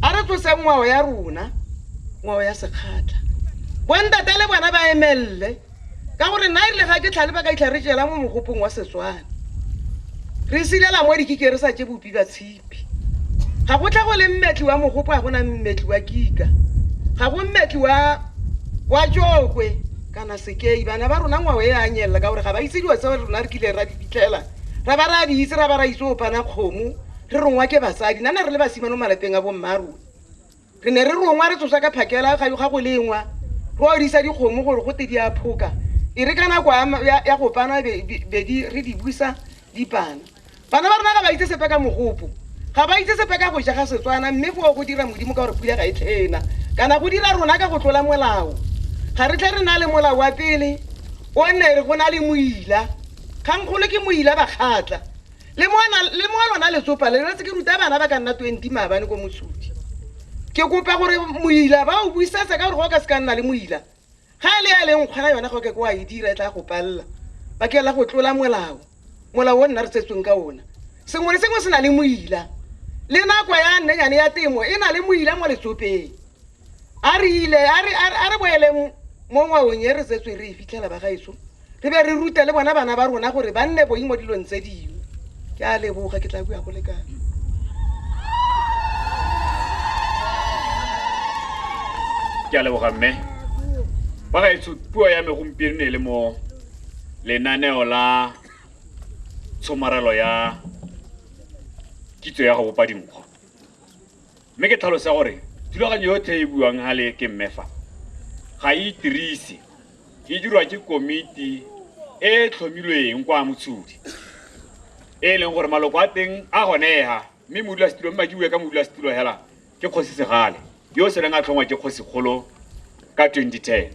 A re tloseng ngwao ya rona, ngwao ya sekgatla. Bontate le bona ba emelele, ka gore nna erile ga ke tlhale ba ka itlha re jela mo mogopong wa Setswana. Re silela mo dikike re sa tse bopi ba tshipi. Ga go tlha go le mmetli wa mogopo a gona mmetli wa kika. Ga go mmetli wa wa tšokwe kana sekei. Bana ba rona ngwao e a nyelela ka gore ga ba itse dilo tse rona re kile ra di fitlhela ra ba ra di itse ra ba ra itse opana kgomo re rongwa ke basadi nna ne re le basimane mo malapeng a bomma a rona re ne re rongwa re tsosa ka phakela ga go lengwa re odisa dikgomo gore go te di a phoka e re ka nako ya go pana bedi re di busa di pana bana ba rona ga ba itse sepe ka mogopo ga ba itse sepe ka go ja ga setswana mme foo go dira modimo ka gore pula ga e tlhena kana go dira rona ka go tlola molao ga re tle re na le molao wa pele o nne go na le moila kgangkgolo ke moila bakgatla Le mo ana- le mo a lona letsopa le retse ke ruta bana ba ka nna 20 maabane ko mosudi ke kopa gore moila ba o buisetse ka gore go ka se ka nna le moila ga e le ya e leng kgona yona go ke ko a e dira e tla go palela bakeng la go tlola molao molao o nna re tsetsweng ka ona sengwe le sengwe se na le moila le nako ya nnenyane ya temo e na le moila mo letsopeng a re ile a re- a re- a re boeleng mo ngwaong e re tsetswe re e fitlhela ba gaetsho re be re rute le bona bana ba rona gore ba nne boing mo dilong tse dingwe ke a leboga ke tla bua go lekana ke a leboga mme ba gaetsho puo ya me gompieno ne e le mo lenaneo la tshomarelo ya kitso ya go bopa dinkgo mme ke tlhalosa gore thulaganyo yotlhe e buang gale ke mmefa ga e itirise e dirwa ke komiti e e tlhomilweng kwa motshodi e e leng gore maloko a teng a gonega mme modulasetulo mme madiwe ka modulasetulo hela ke kgosi segale yo o seleng a tlhongwa ke kgosikgolo ka 2010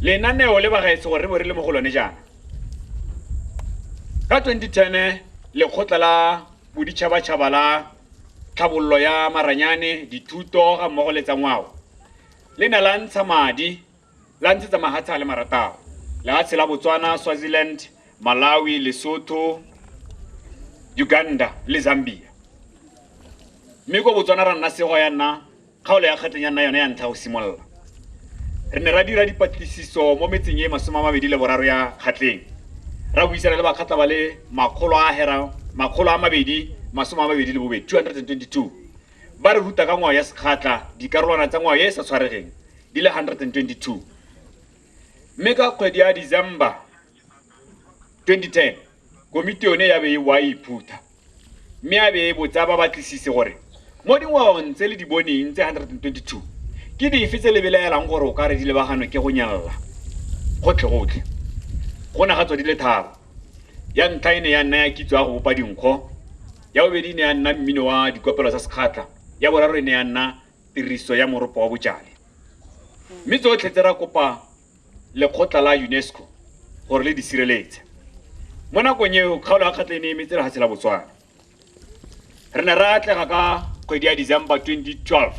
lenaneo le bagaetse gore re bo re le mo go lone jaana ka 2010 lekgotla la Boditšhabatšhaba la Tlhabololo ya Maranyane, Dithuto ga mmogo le tsa Ngwao le ne la ntsha madi la ntshetsa mahatshe a le marataro lehatshe la Botswana, Swaziland, Malawi, Lesotho, Uganda le Zambia. Mme ko Botswana ra nna sego ya nna Kgaolo ya kgatleng ya nna yone ya ntlha go simolola. Re ne ra dira dipatlisiso mo metseng e masome a mabedi le boraro ya kgatleng, ra buisana le bakgatla ba le makgolo a hera makgolo a mabedi masome a mabedi le bobedi, 222, ba re ruta ka ngwao ya Sekgatla dikarolwana tsa ngwao e e sa tshwaregeng di le 122. Mme ka kgwedi ya December 2010 komiti yone ya be e wa iphutha mme ya be e botsa ba batlisise gore mo dingwaong tse le di boneng tse 122 ke dife tse le belaelang gore o ka re di lebaganwe ke go nyalela gotlhegotlhe go na ga tswa di le tharo ya ntlha e ne ya nna ya kitso ya go bopa dinkgo ya bobedi e ne ya nna mmino wa dikopelo tsa sekgatlha ya boraro e ne ya nna tiriso ya moropo wa bojale mme tsotlhe tse ra kopa lekgotla la UNESCO gore le di sireletse. Mo nakong eo kgaolo ya kgatlha e ne e emetse lefatshe la Botswana. Re ne ra atlega ka kgwedi ya December 2012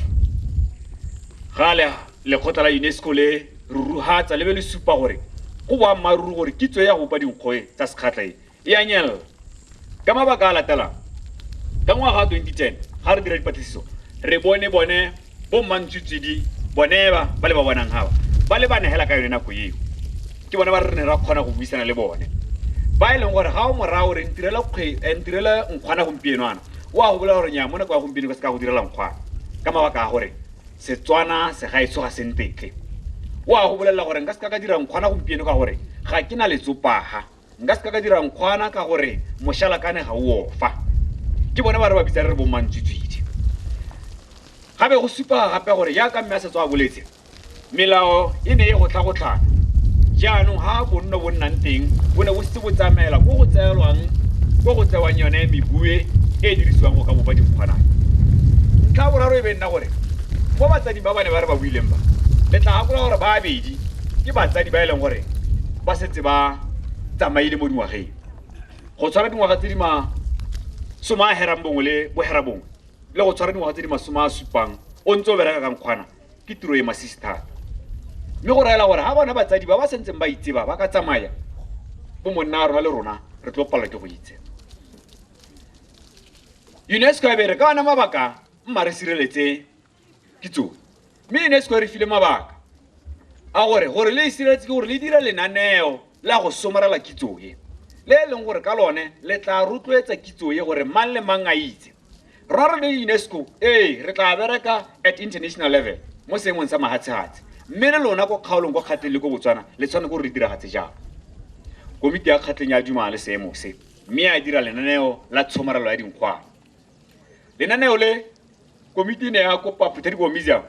ga le lekgotla la UNESCO le ruruhatsa le be le supa gore go boammaaruri gore kitso ya go bopa dinkgoe tsa sekgatlha e e a nyelela ka mabaka a latelang ka ngwaga wa 2010 ga re dira dipatlisiso re bone bone bommantswitswedi bone ba ba le ba bonang gaba ba le ba negela ka yone nako eo ke bone ba re ne ra kgona go buisana le bone ba e leng gore ga o morago re ntirela kgwe- eh, ntirela nkgwana gompieno ana o a go bolela gore nya mo nako ya gompieno ka se ka go direla nkgwana ka mabaka a gore setswana segaetsho ga sentetle o a go bolelela gore nka se ka ka dira nkgwana gompieno ka gore ga ke na letsopaga nka se ka ka dira nkgwana ka gore mošalakane ga o ofa ke bone ba re ba bitsa re re bommantswitswidi gabe go supa gape gore jaaka mme a setswa a boletse melao e ne e go tlhagotlhana jaanong ga bonno bo nnang teng bo ne bo setse bo tsamaela ko go tseelwang ko go tsewang yone mebue e e dirisiwang go ka bopa dikgwanang ntlha boraro e be nna gore mo batsading ba ba ne ba re ba buileng ba le tla gakola gore ba abedi ke batsadi ba e leng gore ba tse ba tsamaile mo dingwageng go tshwara dingwaga tse di masome a herang bongwe le bohera bongwe le go tshwara dingwaga tse di masome a supang o ntse o bereka kang kgwana ke tiro e masisi thata mme go raela gore ga bona batsadi ba ba sentseng ba itseba ba ka tsamaya bo monna a rona le rona re tlo palelwa ke go itse unesco e bere ka ona mabaka mma re sireletse kitso mme e ne e se re file mabaka a gore gore le isiretse ke gore le dira lenaneo la go somarela kitso e le e leng gore ka lone le tla rotloetsa kitso e gore mang le mang a itse rora le unesco ee re tla bereka at international level mo seemong sa mahatshehatse mme le lona ko kgaolong kwa kgatleng le ko botswana le tshwane gore re diragatse jang komiti ya kgatleng ya dumala le seemo se mme ya dira lenaneo la tshomarelo ya dinkgwana lenaneo le komiti ne ya kopa Phuthadiboho Museum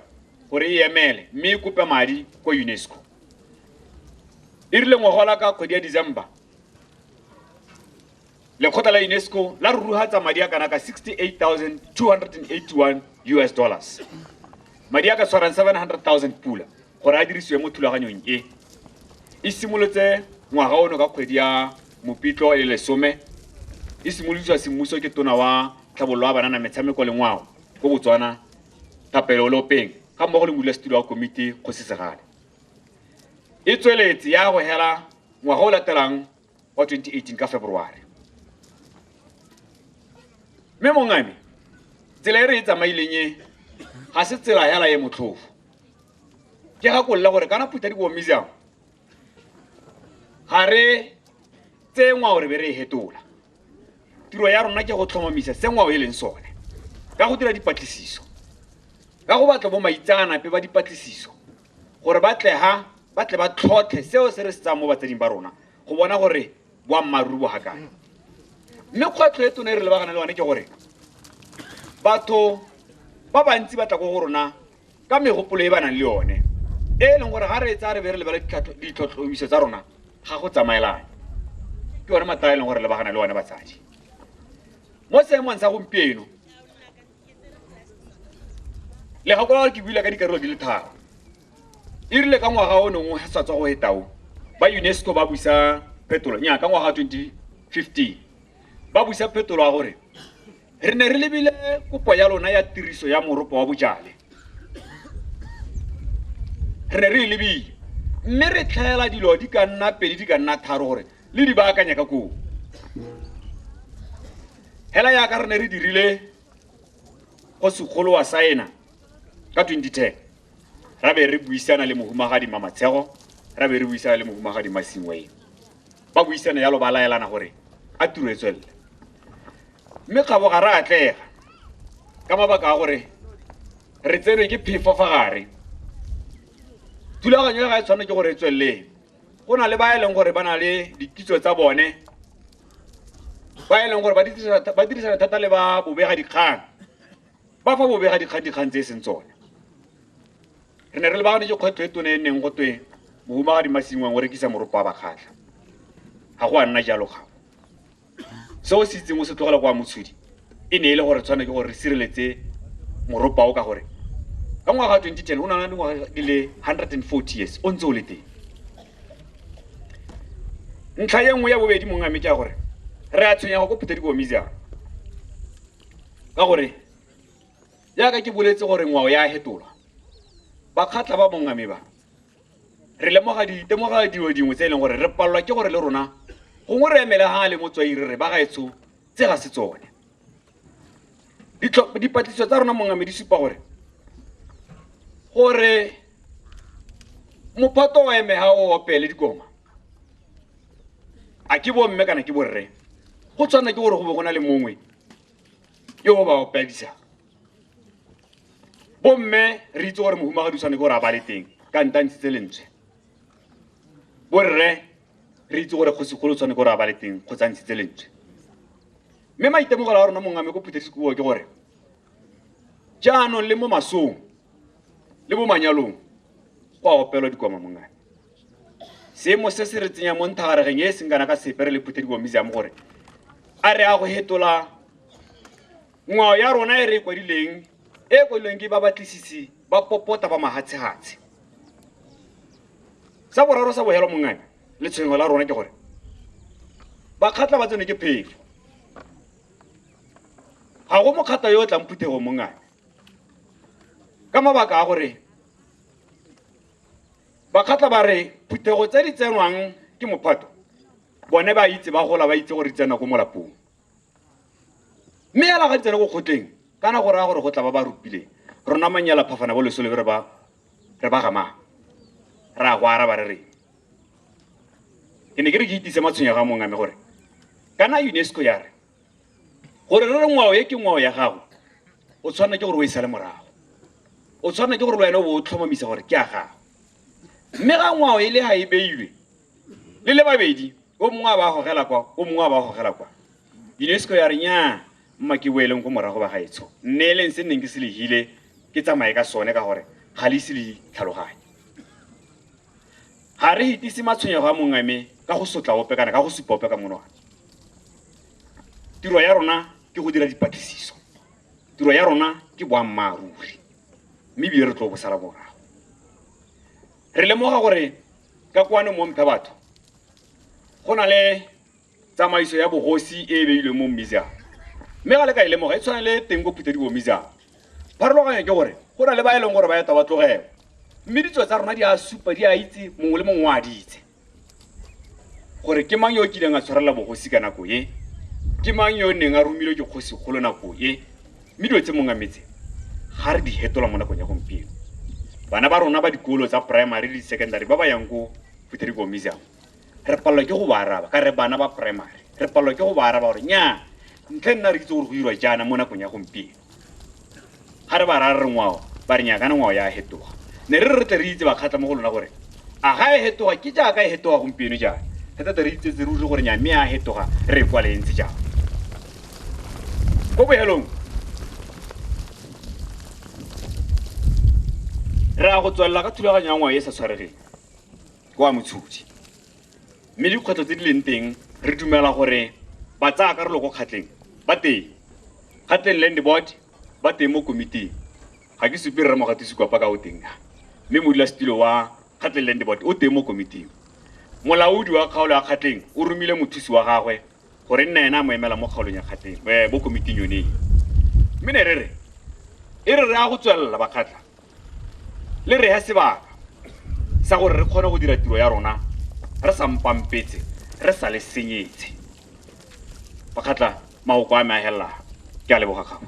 gore e emele mme e kope madi kwa UNESCO e rile ngwagola ka kgwedi ya December lekgotla la UNESCO la ruruhatsa madi a kana ka 68281 US dollars madi a ka tshwarang 700000 pula gore a dirisiwe mo thulaganyong e e simolotse ngwaga ono ka kgwedi ya Mopitlo e lesome e simolotswa semmuso ke tona wa tlhabololo ya banana metshameko le ngwao ko Botswana Thapelo Lopeng ga mmogo le modulasetilo wa komiti Kgosi Segale. E tsweletse ya go hela ngwaga o latelang wa 2018 ka February. Mme mongame tsela e re e tsamaileng e ga se tsela hela e motlhofo. Ke gakolola gore kana Phutha Dibowa Museum ga re tse ngwao re be re e hetola tiro ya rona ke go tlhomamisa se ngwao e leng sone ka go dira dipatlisiso ka go batla bo maitseanape ba dipatlisiso gore ba tle ha ba tle ba tlhotlhe seo se re se tsayang mo batsading ba rona go bona gore boammaaruri bo gakae mme kgwetlho e tone e re lebagana le yone ke gore batho ba bantsi ba tla ko go rona ka megopolo e ba nang le yone e e leng gore ga re tsaya re be re lebele ditlhotlhomiso tsa rona ga go tsamaelane ke one mathata a e leng gore lebagana le one batsadi mo seemong sa gompieno le gakola gore ke buile ka dikarolo di le tharo e rile ka ngwaga o nengwe sa tswa go etao ba unesco ba busa phetolo nya ka ngwaga 2015 ba busa phetolo ya gore re ne re lebile kopo ya lona ya tiriso ya moropo wa bojale re ne re e lebile mme re tlhaela dilo di ka nna pedi di ka nna tharo gore le di baakanya ka koo hela yaka re ne re dirile go segolo wa saena ka 2010 ra be re buisana le mohumagadi mamatshego ra be re buisana le mohumagadi masingweng ba buisana yalo ba laelana gore a tiro e tswelele mme kgabo ga re atlega ka mabaka a gore re tsenwe ke phefo fa gare thulaganyo ya ga e tshwanelo ke gore e tsweleleng go na le ba e leng gore ba na le dikitso tsa bone ba e leng gore ba dirisana thata le ba bobega dikgang ba fa bobega dikgang dikgang tse e seng tsone re ne re lebaganetse kgwetlho e tone e neng go twe mohumagadi masingwang o rekisa moropo wa bakgatlha ga go a nna jalo gago se o se itseng o se tlogela kwa motshodi e ne e le gore tshwane ke gore re sireletse moropo ao ka gore ka ngwaga wa 2010 o nana dingwaga di le 140 years o ntse o le teng ntlha ye nngwe ya bobedi mongwe a meke ya gore re a tshwenyego ko phutha dikomiziang ka gore jaaka ke boletse gore ngwao ya fetolwa bakgatla ba bongame ba re lemoga ditemoga dilo dingwe tse e leng gore re palelwa ke gore le rona gongwe re emele ga le motswai re re ba gaetsho tse ga se tsone dipatlisiso tsa rona mongame di supa gore gore mophato wa emega o opele dikoma a ke bomme kana ke borre go tshwana ke gore go be go na le mongwe yo o ba opedisang bomme re itse gore mohumagadi o tshwane ke gore a ba le teng ka ntantshitse lentswe borre re itse gore kgosigolo o tshwane ke gore a ba le teng go tshantshitse lentswe mme maitemogelo a rona mongame ko phuthesekuo ke gore jaanong le mo masong le mo manyalong go a opelwa dikwama mongame seemo se se re tsenya mo nthagaregeng e e seng kana ka sepe re le phuthediwa museum gore a re a go hetola ngwao ya rona e re e kwadileng e e kwadilweng ke ba batlisisi ba popota ba mahatshehatshe sa boraro sa bohelo mongane le tshwengo la rona ke gore bakgatla ba tsone ke phefo ga go mokgatla yo o tlang phuthego mongane ka mabaka a gore Bakgatla ba re phuthego tse di tsenwang ke mophato bone ba itse ba gola ba itse gore di tsena ko molapong mme ela ga di tsena ko kgotleng kana go raya gore go tla ba ba rupileng rona manyela phafana bo lesole re ba re ba gamang re a go araba re reng ke ne ke re ke itise matshwenyego a mongwe a me gore kana unesco ya re gore re re ngwao e ke ngwao ya gago o tshwanela ke gore o e sale morago o tshwanela ke gore le wena o bo o tlhomamisa gore ke a gago mme ga ngwao e le ga e beilwe le le babedi o mongwe a ba gogela kwa o mongwe a ba gogela kwa unesco ya re nyaa mma ke boeleng ko morago ba gaetsho nne e leng se nneng ke se legile ke tsamaye ka sone ka gore ga le ise le tlhaloganye Ga re itise matshwenyego a mongwe me ka go sotla ope kana ka go supa ope ka monwana. Tiro ya rona ke go dira dipatlisiso. Tiro ya rona ke boammaaruri, mme ebile re tlo bo sala morago. Re lemoga gore ka kwano mo Mphebatho go na le tsamaiso ya bogosi e e beilweng mo mmizang mme ga le ka e lemoga e tshwana le teng ko phuthedibo mmizang pharologanyo ke gore go na le ba e leng gore ba eta ba tlogewa mme ditso tsa rona di a supa di a itse mongwe le mongwe a di itse gore ke mang yo o kileng a tshwarelela bogosi ka nako e ke mang yo o neng a romilwe ke kgosi kgolo nako e mme dilo tse mongwe metse ga re di hetola mo nakong ya gompieno bana ba rona ba dikolo tsa primary le di-secondary ba ba yang ko phuthedibo mmizang re palelwa ke go ba araba ka re bana ba primary re palelwa ke go ba araba gore nyaa ntle nna re itse gore go dirwa jaana mo nakong ya gompieno ga re ba ra re ngwao ba re nyakana ngwao ya hetoga ne re re re tle re itse bakgatlha mo go lona gore a ga e hetoga ke jaaka e hetoga gompieno jaana re tlate re itsetse ruri gore nya mme a hetoga re e kwale e ntse jang ko bohelong re ya go tswelela ka thulaganyo ya ngwao e sa tshwaregeng kwa Motshodi. Mme dikgwetlho tse di leng teng re dumela gore ba tsaya karolo ko kgatleng ba teng. Kgatleng Land Board ba teng mo komiting. Ga ke supe rre Mogatisi kwa paka o teng ka. Mme modulasetilo wa Kgatleng Land Board o teng mo komiting. Molaodi wa kgaolo ya Kgatleng o romile mothusi wa gagwe gore nna ena a mo emela mo kgaolong ya kgatleng eh, mo komiting yone e. mme ne re re e re re ya go tswelela bakgatlha le re ya sebaka sa gore re kgone go dira tiro ya rona re sa mpampetse re sa le senyetse bakgatlha magoko a me a helela ke a leboga gago